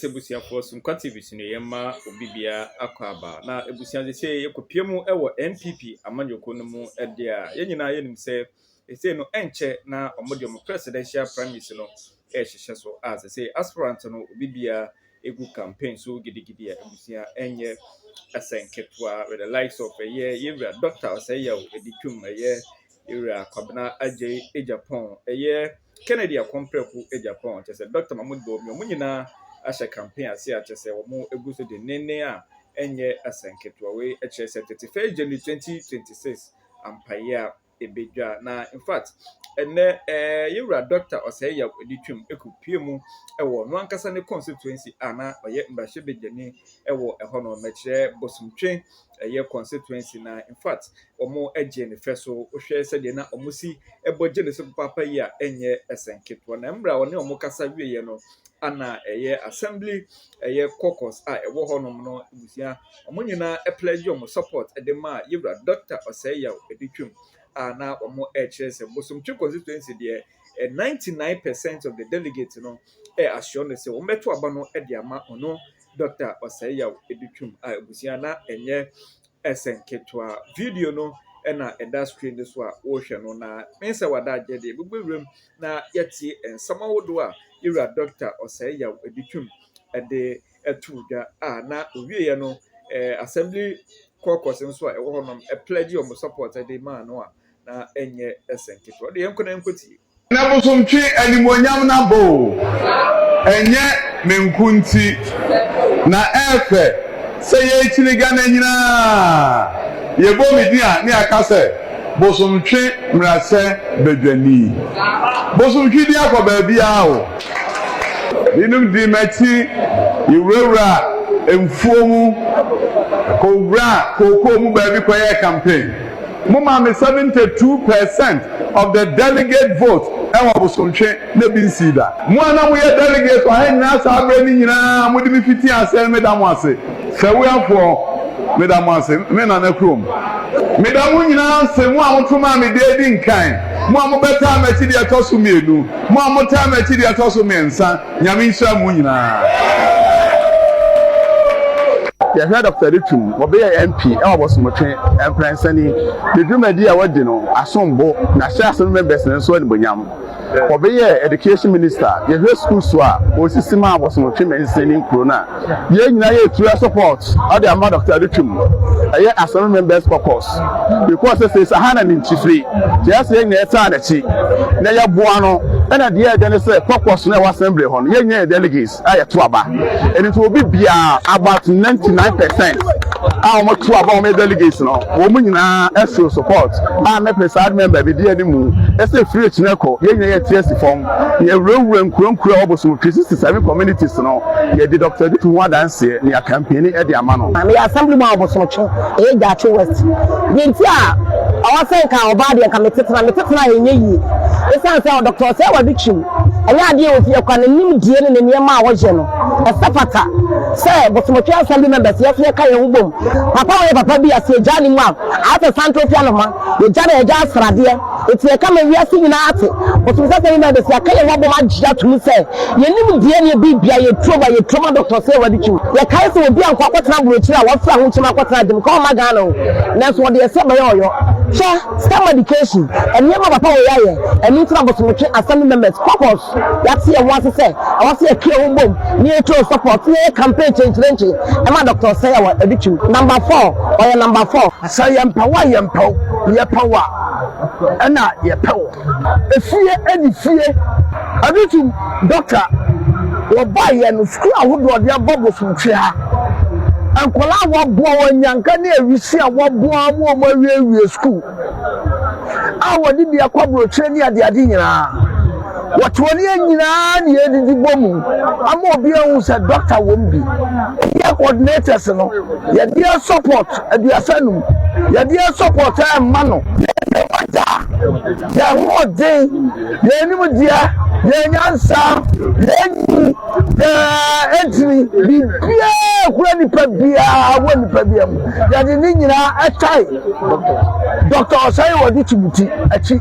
sɛ abusuafoɔ so nkwa tv so no yɛma obi bia akɔ aba na abusua sɛ sɛ yɛkɔpia mu wɔ npp amanyɔkuo no mu ɛde a yɛn nyinaa yɛnim sɛ ɛsei no ɛnkyɛ na wɔde wɔn presidential primaries no ɛhyehyɛ so a sɛ sɛ aspirant no obi bia ɛgu campaign so gidigidi a abusua ɛnyɛ ɛsɛnketewa with the likes of ɛyɛ yɛwura dɔkta ɔsɛyɛw ɛdi twam ɛyɛ Ewura Kwabena Adjei Agyapong, ɛyɛ Kennedy Akompreko Agyapong, kyɛ sɛ Dɔkta Mahmoud Bawumia, wɔn nyinaa ahyɛ campaign ase a kyɛ sɛ wɔgu so denneennen a ɛnyɛ asɛnketewa. Wei kyerɛ sɛ 31 January 2026 ampaeɛ a ɛbɛdwa na in fact ɛnɛ ɛɛ yɛwura Dɔkta Ɔsɛe Yaw ani twam ɛkɔpie mu ɛwɔ no ankasa ne constituency a na ɔyɛ mmarahyɛ badwani ɛwɔ ɛhɔ no mɛkyerɛ bosomtwe ɛyɛ constituency na in fact wɔgye no fɛ so. Wohwɛ sɛdeɛ na wɔsi bɔ gye no so papaapa yi a, ɛnyɛ asɛm ketewa. Na mmerɛ a ɔne wɔn kasa wieeɛ no, ana ɛyɛ assembly ɛyɛ caucus a ɛwɔ hɔnom no abusua, wɔn nyinaa pledge wɔn support de maa Yewura Dɔkta Ɔsɛeyaw de twam a na wɔrekyerɛ sɛ Bosomtwe constituency deɛ, 99 percent of the delegates no assure no sɛ wɔbɛto aba no de ama ɔno Dɔkta Ɔsɛeyaw de twam a abusua na ɛnyɛ Ɛsɛ nketewa. Video no na ɛda screen no so a wohwɛ no na me sɛ wada agye deɛ bɛbɔ wuram na yɛatie nsɛm ahodoɔ a yɛwura Dɔkta Ɔsɛe Yaw de twam de ato dwa a na ɔwieɛ no eh, assembly caucus nso a ɛwɔ hɔnom pledge wɔn support de maa no a na ɛnyɛ ɛsɛ nketewa. Ɔde yɛn nkɔ na yɛnkɔtie. Na bosomtwe animuonyam no abɔ o, ɛnyɛ me nko nti, na ɛɛfɛ sɛ yɛrekyiniga na nyinaa yɛbɔ me din a ne yɛaka sɛ bosomtwe mmerasɛ badwani. Bosomtwe din akɔ baabiara o. Binom di m'akyi, yɛwurawura mfuo mu, kɔwura kookoo mu baabi kɔyɛɛ campaign. Mo maame 72 per cent of the delegate vote ɛwɔ bosomtwe na ebi nsii da. Mo a na mo yɛ delegate wɔ ha nyinaa saa berɛ no nyinaa a mo de me fitii aseɛ no me da mo ase. Fɛwuafoɔ me da mo ase, me Nana kurom. Me da mo nyinaa ase, mo a mo to maa me deɛ edi nkan, mo a mo bɛtaa m'akyi deɛ ɛtɔ so mmienu, mo a mo taa m'akyi deɛ ɛtɔ so mmiɛnsa. Nyame nhyira mo nyinaa. Yɛhwɛ Doctor Litum, wɔbeyɛ MP wɔ Bosomtwe mprɛnsa ni. Ne dwumadi a wɔadi no asom bo, na hyɛ ase no members no nso animuonyam. Wɔbeyɛɛ Education Minister, yɛhwɛ schools a wɔsisi maa Bosomtwe mansin ne nkuro no a, Yɛn nyinaa yɛ tuaa support ɔde ama Doctor Adutwum. Ɛyɛ Asɔre members caucus because sɛ sɛ saha na ninkyifire nti ɛyɛ sɛ yɛn nyinaa yɛtaa nakyi na yɛboa no ɛna deɛ ɛdɛ ne sɛ caucus no ɛwɔ assembly hɔ no yɛn nyinaa yɛ delegates a yɛto aba ɛno nti obi biara about 99 percent a wɔn to aba wɔn yɛ delegates no wɔn nyinaa ɛso support a ne presiding member bi di ɛni mu ɛsɛ firi akyinɛ kɔ yɛn nyinaa yɛte asi fam. Yɛwurawura nkuro nkuro a ɛwɔ Bosom Twi sixty seven communities no, yɛde Doctor Aditu ho adanseɛ ne akampeni de ama no. Meyɛ Assemblyman wɔ Bosom Twi, ɛyɛ Gyaakye West. Deɛ nti a ɔwɔ sɛ nka ɔbaa deɛ nka me tetena, me tetena a ɛnyɛ yie. Ɛsiane sɛ Doctor Ɔsɛe Wadu Kyim, ɛnyɛ adeɛ a ɔsi ɛkwa, ne nimdeɛ ne ne nneɛma a ɔyɛ no, ɛsɛ fata sɛ Bosom Twi Assembly members yɛso yɛka yɛn ho bom. Papa wei yɛ papa bi a sɛ yɛgyaa ne mu a, ayɛ sɛ santen fi anoma. Yɛagya na yɛagya asradeɛ. Enti yɛka ma wiase nyinaa ate, Bosomsɛsɛm yi ma yɛbɛsi aka yɛn ho abom agye atom sɛ yɛnim deɛ ne ɛbɛ bia, yɛ turom a, yɛ turom a Doctor sɛ w'adi twum. Yɛkae sɛ obi ankɔ akɔtena aburokyire a wafira ho nkyem akɔtena adeɛ mu ka ɔmma Ghana o, nanso wɔde ɛsɛ bɛyɛ ɔyɔ. Hwɛ, stem education, nneɛma papa wei ayɛ, ɛno nti na Bosomtwe Assembly members, caucus, yɛate yɛn ho ase sɛ ɛwɔ sɛ yɛka yɛn ho bom na yɛturom support na yɛyɛ campaign kyenkyerenkye ɛma Doctor sɛ wɔ adi twum. Number four, ɔyɛ number four. Sɛ yɛmpɛ wo a yɛmpɛ wo, yɛpɛ wo a na yɛpɛ wo. Efie ne fie. Ɛno tum dɔkta wɔbaeɛ no sukuu ahodoɔ ɔde abɔ bosomtwea nkwadaa a wɔaboa wɔn anyanka ne awisi a wɔaboa wɔn a wɔawiewie sukuu a wɔde bi akɔ aburokyire ne adeade nyinaa. Wɔte wɔn yɛ nyinaa ne yɛdidi bɔ mu ama obi ahu sɛ dɔkta wɔm bi. Yɛ coordinators no, yɛdeɛ support aduasa num, yɛdeɛ support a mma no. Yɛde wagya, yɛ hoɔden, yɛ anim deɛ, yɛ nyansa, yɛ nyi, yɛ ɛntini, bibiaa kura nipa biaa wɔ nipa biaa mu. Yɛde ne nyinaa ɛtae dɔkta ɔsɛe wɔde timuti akyi.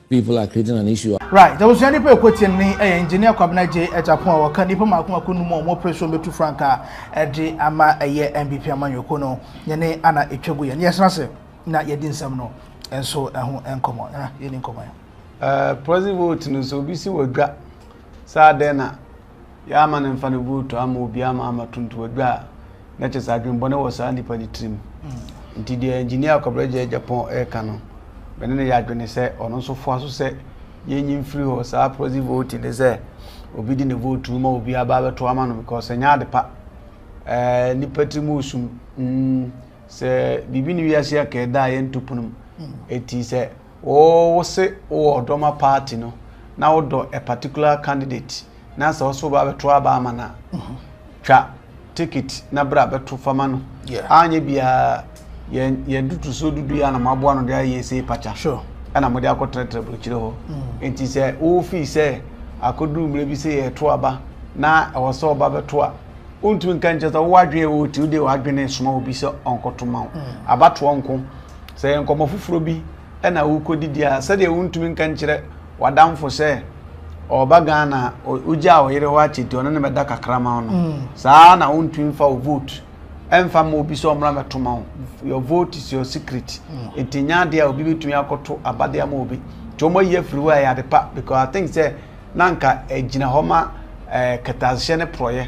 People are creating an issue a. Right abusua nnipa a ɛkɔ tiam no yi yɛ Engineer Kwabena Gyei Agyapong a wɔka nnipa mmaako mmaako nnum a wɔn opresuon bɛtu frankaa de ama ɛyɛ NBP amanyɔkuo no yɛne ana ɛtwa gu yɛne yɛsena ase na yɛdi nsɛm no nso ɛho nkɔmmɔ na yɛni nkɔmmɔ yi. Proxy vote no sɛ obi si wɔ dwa saa dɛn na. Yɛ ama no mfa ne vote ama obi ama ama to ntowadwa a, na kyɛ sɛ adwembɔne wɔ saa nipa no tirim. Nti deɛ Engineer Kwabena Gyei-Agyapong reka no, me ne no yɛ adwene sɛ ɔno nso foa so sɛ yɛnyi mfiri hɔ. Saa proxy voting ne sɛ obi de ne vote no ma obi aba abɛto ama no because ɛnyɛ ade pa. Ɛɛ nipa tirim resum. Mm, sɛ biribi ne wiase a ka ɛda a yɛnto pono mu. Eti sɛ wo wo se wo wɔ ɔdɔ ma party no na wo dɔ a particular candidate na sɛ wo so ba bɛto aba ama na twa ticket na bra bɛto fama no anyɛ bia yɛ yɛ dudu so dudu ya na mo aboa no de ayɛ sei pacha sure ɛna mo de akɔ trɛtrɛ burokyire hɔ mm. nti sɛ wo fi sɛ akoduru mmerɛ bi sɛ yɛ to aba na ɛwɔ sɛ ɔba bɛto a wontumi nka nkyɛ sɛ wowɔ adwene wɔ ti wode w'adwene soma obi sɛ ɔnkɔto ma wo mm. abatoɔ nko Sɛ ɛyɛ nkɔmmɔ foforɔ bi na worekɔdidi a, sɛdeɛ wontumi nka nkyerɛ w'adamfo sɛ ɔreba Ghana a, ɔ- wogyaa ɔyere hɔ akyɛ nti ɔne no bɛda kakra ma wo no, saa ara na wontumi mfa wo vote ɛmfa mma obi sɛ ɔmmra mmɛto ma wo. Your vote is your secret. Nti nyɛ adeɛ a obi bɛtumi akɔto aba de ama obi. Nti wɔayi afiri hɔ a, ɛyɛ ade pa because I think sɛ na anka ɛgyina hɔ ma eh, kɛtɛasehyɛ ne porɔeɛ.